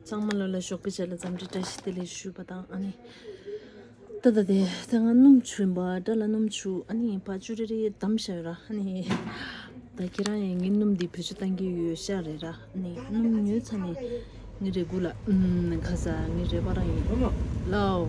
གཙང་མ་ལོ་ལ་ཞོགས་པའི་ཆ་ལ་འཛམ་འབྲི་བཀྲ་ཤིས་བདེ་ལེགས་ཞུ་བ་དང་ཨ་ནི། ཏ་ད་དེ་ད་ང་སྣུམ་ཆུ་ཡིན་པ་སྐྲ་ལ་སྣུམ་ཆུ་ཨ་ནི་བ་ཅུ་རེ་རེ་བསྡམ་བཞག་ཡོད་ར་ཨ་ནི། ད་ཁྱེད་རང་ཡང་ངའི་སྣུམ་འདི་བེད་སྤྱོད་གཏང་གི་ཡོད་ཤག་རེད་ར་ཨ་ནི་སྣུམ་ཉོས་ཚར་ནས་ངའི་རེ་སྒུག་ལ་ཨུ་ནི་ཁ་ཟ་ངའི་རེ་བ་རང་ཡིན་ལའོ།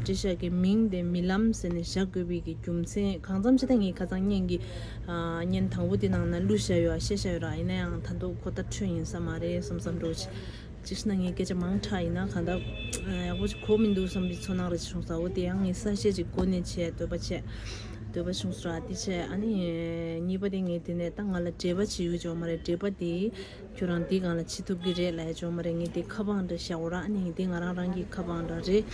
བཀྲིས་ཤག་གི་མིང་དེ་རྨི་ལམ་ཟེར་ནས་བཞག་དགོས་པའི་གི་རྒྱུ་མཚན་གང་ཙམ་ཅི་ད་ངའི་ཁ་ཚང་བརྙན་གི་བརྙན་དང་པོ་དེ་ནང་ན་གླུ་བཞག་ཡོད་ཨ་ཤེས་བཞག་ཡོད་ར་ཡིན་ན་ཡང་ད་འདུག་ཁོ་ལྟར་འཁྲོལ་ཡིན་ས་མ་རེད་བསམ་བསམ་འགྲོ་ཅི་ཞེ་ན་ངའི་སྐད་ཆ་མང་དྲགས་ཡིན་ན་གང་ལྟར་ཡག་པོ་ཅིག་གོ་མི་འདུག་བསམ་པའི་ཚོར་སྣང་རེ་བྱུང་ས་འོ་དེ་ཡང་ངས་གསལ་བཤད་ཅིག་གོ་ནས་བྱས་འདོད་པ་བྱས་འདོད་པ་བྱུང་ས་ར་དེ་བྱས་ཨ་ནི་གཉིས་པ་དེ་ངས་དེ་ནས་ད་ང་ལ་འདྲེས་པ་བྱེད་ཡུལ་ཅིག་ཡོད་མ་རེད་འདྲེས་པ་དེ་ཁྱོད་རང་འདི་གང་ལ་ཕྱི་ཐུབ་ཀྱི་རེད་ལ་ཡ་ཅོ་མ་རེད་ངས་འདི་ཁ་པང་འདྲ་བཞག་འོ་ར་ཨ་ནི་འདི་ང་རང་རང་གི་ཁ་པང་འདྲ་རེད་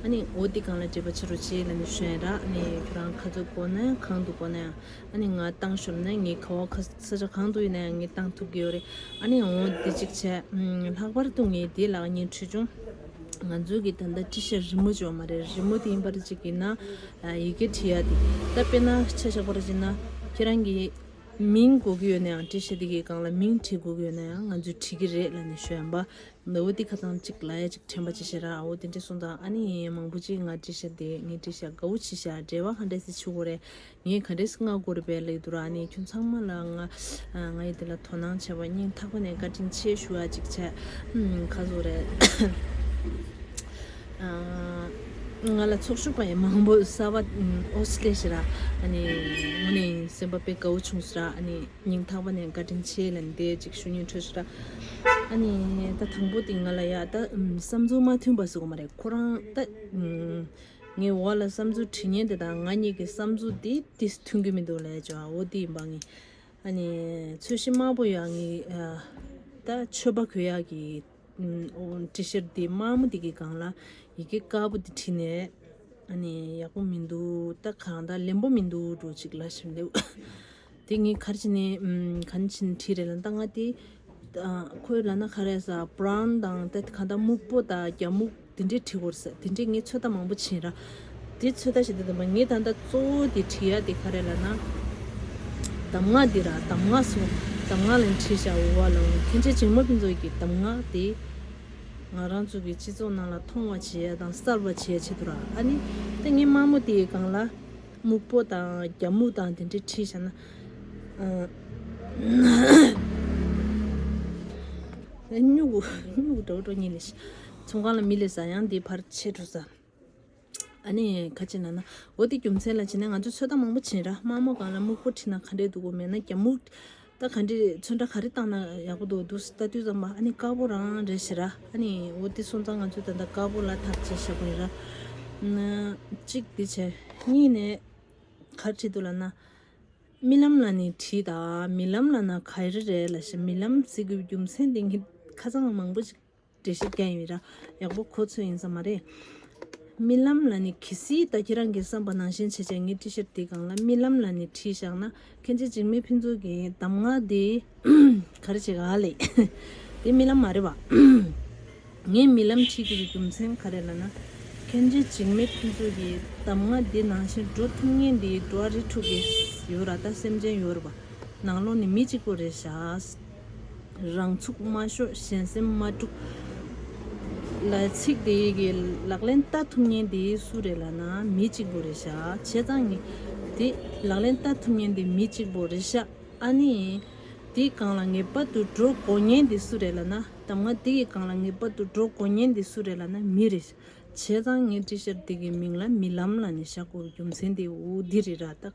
ཨ་ནི་འོ་འདི་གང་ལ་འདྲེས་པ་བྱེད་རོགས་བྱེད་ལ་ནི་ཤོན་ར་ཨ་ནི་ཁྱོད་རང་ཁ་ཚུགས་གོ་ན་ཡང་གང་འདུག་གོ་ན་ཡང་ཨ་ནི་ང་བཏང་ཤོམ་ན་ངའི་ཁ་བ་ཁ་ས་ཆ་གང་དུ་ཡིན་ན་ཡང་ངས་བཏང་ཐུབ་ཀྱི་ཡོད་རེད་ཨ་ནི་འོ་འདི་ཅིག་བྱས་ལྷག་པར་དུ་ངས་འདི་ལག་གཉིས་ཁྲུས་བྱུང་ང་ཚོའི་གི་ད་ལྟ་ཏྲི་ཤ་རི་མོ་བྱོ་མ་རེད་རི་མོ་དེ་ཡིན་པར་ཅིག་ཡིན་ན་ཡི་གེ་བྲི་ཡ་དེ་ད་དཔེ་ན་ཆ་བཞག་པར་བྱས་ན་ཁྱེད་རང་གི། མིང་གོ་གི་ཡོད་ན་ཡང་བྲིས་ཤེས་དེ་གའི་སྒང་ལ་མིང་བྲིས་གོ་གི་ཡོད་ན་ཡང་ང་ཚོས་བྲིས་ཀྱི་རེད་ལ་ནི་ཞོ་ཡམ་པ། འདི་འོ་དེ་ཁ་ཚང་གཅིག་ལ་ཡ་གཅིག་དྲན་པ་བྱེད་ཤེས་ར་འོ་དེ་འདྲས་སོང་དང་ཨ་ནི་ཡིན་ཡིན་མང་པོ་གཅིག་ང་བྲིས་ཤ་དེ་ངས་བྲིས་ཤ་དགའ་བོ་བྱེད་ཤ་འབྲེལ་བ་ག་འདྲས་སེ་ཆུ་གོ་རེ་ངས་ག་འདྲས་སྔ་གོ་རེ་བས་ལེགས་འདུག་ར་ཨ་ནི་ཁྱོད་ཚང་མ་ལ་ང་ང་ཡི་དེ་ལ་དོ་སྣང་བྱས་པ་སྙིང་ཐག་པ་ནས་བཀའ་དྲིན་ཆེ་ཞུ་ཡ་གཅིག་བྱས། ཁ་བཟོ་རེད། ང་ལ་ཚོགས་ཞུགས་པ་ཡང་མང་པོ་གསར་བ་ཨོ་སི་ཀྲེ་ཤི་ར་ངོ་ནས་སེམས་པ་དཔའི་གའུ་ཆུང་སི་ར་ཉིང་ཐག་པ་ནས་བཀའ་དྲིན་ཆེ་ལན་འདེ་ཅིག་ཞུ་ཉེ་འཁྲུལ་སི་ར་ད་དང་པོ་དེ་ང་ལ་ཡ་ད་བསམ་ཚུལ་མ་མཐུན་པ་ཟེར་གོ་མ་རེད་ཁོ་རང་ད་ངའི་འོག་ལ་བསམ་ཚུལ་དྲི་ཉན་དེ་དང་ང་གཉིས་ཀྱི་བསམ་ཚུལ་དེ་དེ་མཐུན་གྱི་མི་འདུག་ལས་ཅོ་འོ་དེ་ཡིན་པ་ངའི་ཚོད་ཤི་དམར་པོ་ཡ་ངའི་ད་ཆོས་པ་གོས་ཡ་གི་ཏྲི་ཤར་དེ་དམར་མོ་དེ་གི་སྒང་ལ་ཡི་གེ་དཀར་པོ་དེ་བྲིས་ནས་ཨ་ནི་ཡག་པོ་མི་འདུག་ད་གང་ད་ལེན་པོ་མི་འདུག་འགྲོ་ཅིག་ལབ་བཞིན་འདུག་དེ་ངས་གར་བྱིན་ནས་གང་བྱིན་བྲིས་རེད་ལ་ད་ང་དེ་ཁོའི་ལག་ན་ག་རེ་ཟ་བ་པྲང་དང་ད་གང་ད་སྨུག་པོ་དང་རྒྱ་སྨུག་དེ་འདྲའི་དྲི་བོར་ཟད་དེ་འདྲའི་ངས་ཚོད་ལྟ་མང་པོ་བྱིན་ར། དེ་ཚོད་ལྟ་བྱེད་དེ་དང་པོ་ངས་ད་ལྟ་གཙོ་བོ་དེ་བྲིས་ཡ་དེ་ག་རེད་ལ་ན། གདམས་ངག་འདི་ར་གདམས་ངག་སོང་གདམས་ངག་ལན་བྲིས་བྱ་འུར་བ་ལ་འུར་མཁན་ཆེ་ཆེ་མོ་ཕུན་ཚོགས་ཀྱིས་གདམས་ངག་དེ། ང་རང་ཚོ་གི་སྤྱི་ཚོགས་ནང་ལ་མཐོང་བ་བྱེད་ཡ་དང་གསར་བ་བྱེད་ཡ་བྱེད་དུ་ར་ཨ་ནི། ད་ངས་དམར་མོ་དེའི་སྒང་ལ། སྨུག་པོ་དང་རྒྱ་སྨུག་དང་དེ་འདྲས་བྲིས་བྱ་ན། སྨྱུག་གུ་སྨྱུག་གུ་འདྲ་བོ་འགྲོ་ངེས་ལས་ཤེས། ཚོང་ཁང་ལ་མི་ལས་ཟ་ཡང་འདི་ཕར་ཆས་འགྲོ་ཟ། ཨ་ནི་ཁ་ཆེ་ན་ན། འོ་དེ་རྒྱུ་མཚན་ལ་བྱས་ན་ང་ཚོས་ཚོད་ལྟ་མང་པོ་བྱིན་ར་དམར་མོ་སྒང་ལ་སྨུག་པོ་ཁྲིད་ན་ག་འདྲས་འདུག་གོ་མེད་ན་རྒྱ་སྨུག། ད་ག་འདྲས་རེད་ཚོད་འདྲ་ག་རེ་བཏང་ན་ཡག་པོ་འདུག་འདུག་ལྟ་དུས་ཙམ་པ་ཨ་ནི་དཀར་པོ་རང་རེད་ཟེར་ར་ཨ་ནི་འོ་དེ་སོང་ཙང་ང་ཚོས་ད་ལྟ་དཀར་པོ་ལ་ཐག་བཅད་ཤག་པ་ཡིན་ར། གཅིག་འདི་བྱས། གཉིས་ནས་གར་ཁྲིད་འདུག་ལ་ན། རྨི་ལམ་ལ་ནི་ཁྲིད་ད་མི་ལམ་ལ་ན་ག་རེ་རེད་ལ་ཞེས་རྨི་ལམ་ཟེར་དགོས་པའི་རྒྱུ་མཚན་འདི་ངས་ཁ་ཚང་མང་པོ་ཞིག། འདྲེ་ཞིག་བསྐྱལ་ཡོད་ར། ཡག་པོ་གོ་ཚོད་ཡིན་ས་མ་རེད། རྨི་ལམ་ལ་ནི་གལ་སྲིད་ད་ཁྱེད་རང་གི་བསམ་པ་ནང་བཞིན་བྱེད་ཆ་ངའི་ཏི་ཤར་དེ་གང་ལ་རྨི་ལམ་ལ་ནི་བྲིས་བཞག་ན་ཁྱེད་ཀྱི་འཇིགས་མེད་ཕུན་ཚོགས་ཀྱི་གདམས་ངག་དེ་ག་རེ་བྱེད་ག་ལ་ཡིན། དེ་རྨི་ལམ་མ་རེད་བ། ངས་རྨི་ལམ་བྲིས་དགོས་པའི་རྒྱུ་མཚན་ག་རེ་ལ་ན། ཁྱེད་ཀྱི་འཇིགས་མེད་ཕུན་ཚོགས་ཀྱི་གདམས་ངག་དེ་ནང་བཞིན་འགྲོ་ཐུབ་ངེས་འདི་འགྲོ་བ་རེ་ཕྲུག་གིས་ཡོད་ར་ད་སེམས་ཅན་ཡོད་ར་བ། ནང་ལོག་ནི་མི་གཅིག་པོ་རེད་བཞག། རང་ཚུགས་མ་ཤོར་གཞན་སེམས་མ་དཀྲུག། ལ་ཚིག་དེ་ཡི་གི་ལག་ལེན་བལྟ་ཐུབ་ཉེན་དེ་སུ་རེད་ལ་ན་མི་གཅིག་པོ་རེད་ཤག་བྱས་ཙང་ངི། དེ་ལག་ལེན་བལྟ་ཐུབ་ཉེན་དེ་མི་གཅིག་པོ་རེད་ཤག་ཨ་ནི། དེ་གང་ལ་ངེས་པ་དུ་འགྲོ་དགོས་ཉེན་དེ་སུ་རེད་ལ་ན་དམ་ང་དེ་གི་གང་ལ་ངེས་པ་དུ་འགྲོ་དགོས་ཉེན་དེ་སུ་རེད་ལ་ན་མི་རེད་ཤག་བྱས་ཙང་ངི་ཀྲི་ཤར་དེ་གི་མིང་ལ་མི་ལམ་ལ་ནི་ཤག་གོ་རྒྱུ་མཚན་དེ་འུ་དི་རི་ར་ཏག།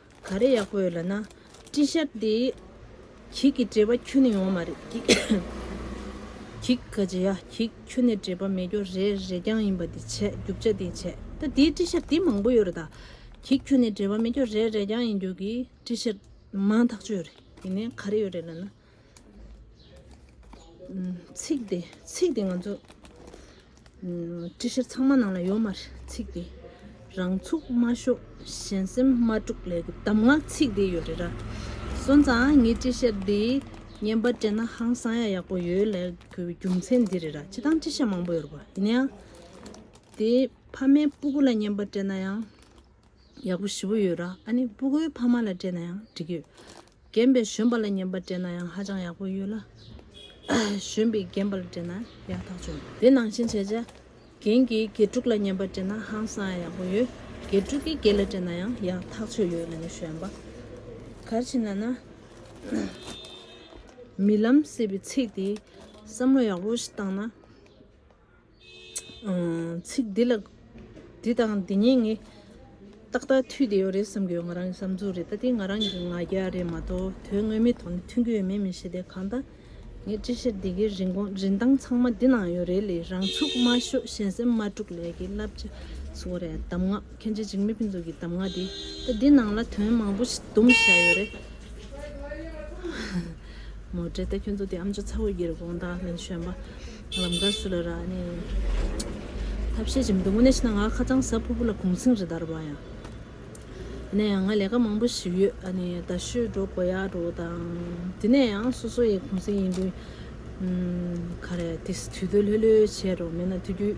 ག་རེ་ཡག་པོ་ཡོད་ལ་ན། སྤྲིན་ཤར་དེ། གྱིག་གི་འདྲེས་པ་ཁྱོན་ནས་ཡོང་བ་མ་རེད། གྱིག་ག་ཇི་ཡ་གྱིག་ཁྱོན་ནས་འདྲེས་པ་མེད་སྐྱོར་རེ་རེ་རྐྱང་ཡིན་པ་དེ་བྱས་རྒྱུ་བྱ་དེ་བྱས་ད་དེའི་སྤྲིན་ཤར་དེ་མང་པོ་ཡོད་རེད་ད། གྱིག་ཁྱོན་ནས་འདྲེས་པ་མེད་སྐྱོར་རེ་རེ་རྐྱང་ཡིན་རྒྱུ་གྱི་སྤྲིན་ཤར་མང་ཐག་ཆོད་རེད་དེ་ནས་ག་རེ་ཡོད་རེད་ལ་ན། ཚིག་དེ་ཚིག་དེ་ང་ཚོ་ཀྲི་ཤྲཱི་ཚང་མ་ནང་ལ་ཡོད་མ་རེད་ཚིག་དེ་རང་ཚུགས་མ་ཤོག་གཞན་སེམས་མ་དཀྲུག་ལེ་གི་གདམས་ངག་ཚིག་དེ་ཡོད་རེད་ར། སོན་ཙང་ངའི་ཀྲི་ཤྲཱི་འདི་བརྙན་པར་སྤྲད་ན་ཧང་སང་ཡག་ཡག་པོ་ཡོད་ལེ་གི་རྒྱུ་མཚན་འདི་རེད་ར་བྱེད་སྟངས་ཀྲི་ཤྲཱི་མང་པོ་ཡོད་རེད་པ་ཡིན་ན་ཡང་དེ་ཕ་མའི་སྤུ་གུ་ལ་བརྙན་པར་སྤྲད་ན་ཡང་ཡག་པོ་ཞེ་པོ་ཡོད་ར་ཨ་ནི་སྤུ་གུའི་ཕ་མ་ལ་སྤྲད་ན་ཡང་འགྲིག་ཡོད་རྒན་པའི་གཞོན་པ་ལ་ཉན་པར་སྤྲད་ན་ཡང་ཧ་ཅང་ཡག་པོ་ཡོད་ལ། གཞོན་པས་རྒན་པ་ལ་སྤྲད་ན་ཡག་ཐག་ཆོད། དེ་ནང་བཞིན་བྱས། རྒན་གྱིས་དགེ་ཕྲུག་ལ་ཉན་པར་སྤྲད་ན་ཧང་སང་ཡག་པོ་ཡོད། དགེ་ཕྲུག་གིས་དགེ་ལ་སྤྲད་ན་ཡང་ཡག་ཐག་ཆོད་ཡོད་ལ་ནི་གཞོན་པ། གར་ཕྱིན་ན་ན། མི་ལམ་ཟེར་བའི་ཚིག་དེ་བསམ་བློ་ཡག་པོ་ཞིག་བཏང་ན། ཚིག་འདི་ལ་འདི་དང་འདི་གཉིས་ངས་ཏག་ཏག་མཐུད་དེ་ཡོད་རེད་བསམ་གྱི་ཡོད་ང་རང་གི་བསམ་ཚུལ་རེད་ད་དེ་ང་རང་གི་ང་རྒྱལ་རེད་མ་གཏོགས་དོན་དངོས་མི་ཐོག་ནས་མཐུན་གྱི་ཡོད་མེད་མི་ཤེས་དེ་གང་ལྟར་ངས་ཅི་བཤད་འདི་གའི་རིན་གོང་རིན་ཐང་ཚང་མ་འདི་ན་ཡོད་རེད་ལས་རང་ཚུགས་མ་ཤོད་གཞན་སེམས་མ་དཀྲུག་ལས་ཀྱི་བསླབ་བྱ་བཟོ་རེད་གདམ་ངག་མཁན་ཆེན་འཇིགས་མེད་ཕུན་ཚོགས་ཀྱི་གདམ་ངག་འདི་ད་འདི་ནང་ལ་དོན་མང་པོ་ཞིག་བསྡོམས་བཞག་ཡོད་རེད། མོ་བཀྲིས་བདེ་ཁྱོད་ཚོ་དེ་ཨམ་ཆོས་ཚ་བོ་ཡིར་དགོངས་དག་ལན་ཞོན་པ། ལམ་དགའ་སུ་ལ་ར་ནི། ཐབས་ཤེས་ཅིམ་དུ་མོ་ནས་ཤི་ན་ང་ཁ་ཚང་ཟ་ཕུ་བུ་ལ་གུང་ཚིང་རི་དར་བ་ཡང། ནས་ཡང་ང་ལས་ཀ་མང་པོ་ཞིག་ཡོད་ཨ་ནི་ད་ཤོད་འགྲོ་དགོས་ཡག་འགྲོ་དང། དེ་ནས་ཡང་སོ་སོ་ཡི་གུང་ཚིང་ཡིན་དུས། ཁ་རས་དེ་སི་དུས་དོད་ལྷོད་ལྷོད་བྱེད་རོགས་མེད་ན་དུས་དུས།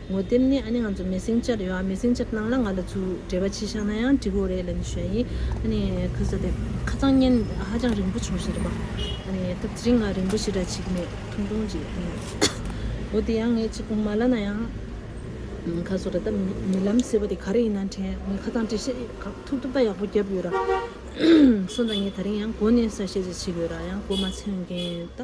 ངོ་དེབ་ནི་ཨ་ནི་ང་ཚོ་མེ་སྲིང་ཅར་ཡོད་ཨ་མེ་སྲིང་ཅར་ནང་ལ་ང་ལ་ཚུ་འབྲེལ་བ་ཅི་བཞག་ན་ཡང་འགྲིག་གོ་རེད་ལན་ཞོན་ཡིན་ཨ་ནི་ཁུ་ས་དེ་ཁ་ཚང་བརྙན་ཧ་ཅང་རིང་པོ་བྱུང་ཞིག་རེད་པ་ཨ་ནི་སྐབས་དེ་རིང་ང་རིང་པོ་ཞིག་ར་ཅིག་མེད་ཐུང་ཐུང་ཅིག་ཨ་ནི་འོ་དེ་ཡང་ངས་ཅིག་མ་ལ་ན་ཡང་ཁ་སོ་ར་ད་མི་ལམ་ཟེར་བ་དེ་ག་རེ་ཡིན་ན་དྲན་ངས་ཁ་ཚང་འབྲི་ཤེས་གག་ཐུབ་ཐུབ་ད་ཡག་པོ་བརྒྱབ་ཡོད་ར་སོང་ཙང་ངས་ད་རིང་ཡང་གོ་ནས་གསར་བཤད་ཅིག་བྱེད་དགོས་ར་ཡང་གོ་མ་ཚོན་མཁན་ད།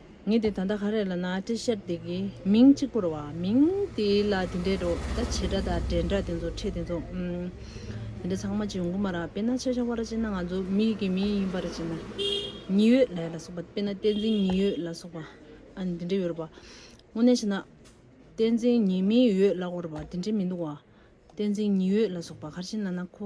ངས་དེ་ད་ལྟ་ག་རེ་ལ་ན་བཀྲི་ཤར་འདི་གི་མིང་གཅིག་པོར་བ་མིང་དེ་ལ་དེ་འདྲའི་འགྲོ་ད་བྱེད་འདྲ་ད་འདྲེ་འདྲ་དེ་ཚོ་ཁྲེ་དེ་ཚོ་དེ་འདྲ་ཚང་མ་ཇི་འགུ་མ་ར་དཔེ་ན་ཆ་ཆ་བ་ར་ཅན་ན་ང་ཚོ་མིག་གི་མིང་ཡིན་པ་ར་ཅན་ན་ཉི་འོད་ལས་ལ་སོགས་པ་དཔེ་ན་བསྟན་འཛིན་ཉི་འོད་ལ་སོགས་པ་ཨ་ནི་དེ་འདྲ་ཡོད་ར་བ་དངོས་གནས་བྱས་ན་བསྟན་འཛིན་ཉི་མི་འོད་ལ་འོ་ར་བ་དེ་འདྲ་མི་འདུག་བ་བསྟན་འཛིན་ཉི་འོད་ལ་སོགས་པ་ག་ར་ཅན་ན་ན་ཁོ་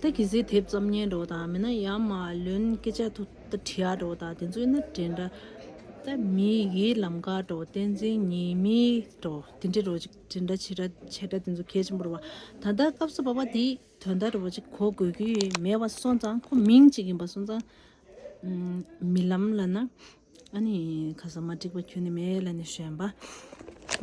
བདག་གིས་གཟིགས་དེབ་ཙམ་ཉན་འགྲོ་དང་མིན་ན་ཡར་མར་ལོན་སྐད་ཆ་ཐུག་ད་དྲིས་ཡག་འགྲོ་དང་དེ་ཚོའི་སྣ་དྲན་འདྲ་ད་མི་ཡི་ལམ་དགའ་འགྲོ་བསྟན་འཛིན་ཉིད་མི་འགྲོ་དེ་འདྲའི་རོ་གཅིག་དྲན་འདྲ་བྱེད་འདྲ་བྱེད་འདྲ་དེ་ཚོ་གལ་ཆེན་པོ་རེད་བ་ད་ལྟ་སྐབས་སུ་བབ་པ་དེ་དོན་དག་རེད་བ་གཅིག་གོ་དགོས་ཀྱི་མེད་བ་སོང་ཙང་ཁོ་མིང་གཅིག་ཡིན་པ་སོང་ཙང་མི་ལམ་ལ་ན་ཨ་ནི་ཁ་ས་མ་འགྲིག་པ་ཁྱོད་ནི་མེད་ལ་ནི་གཞོན་པ།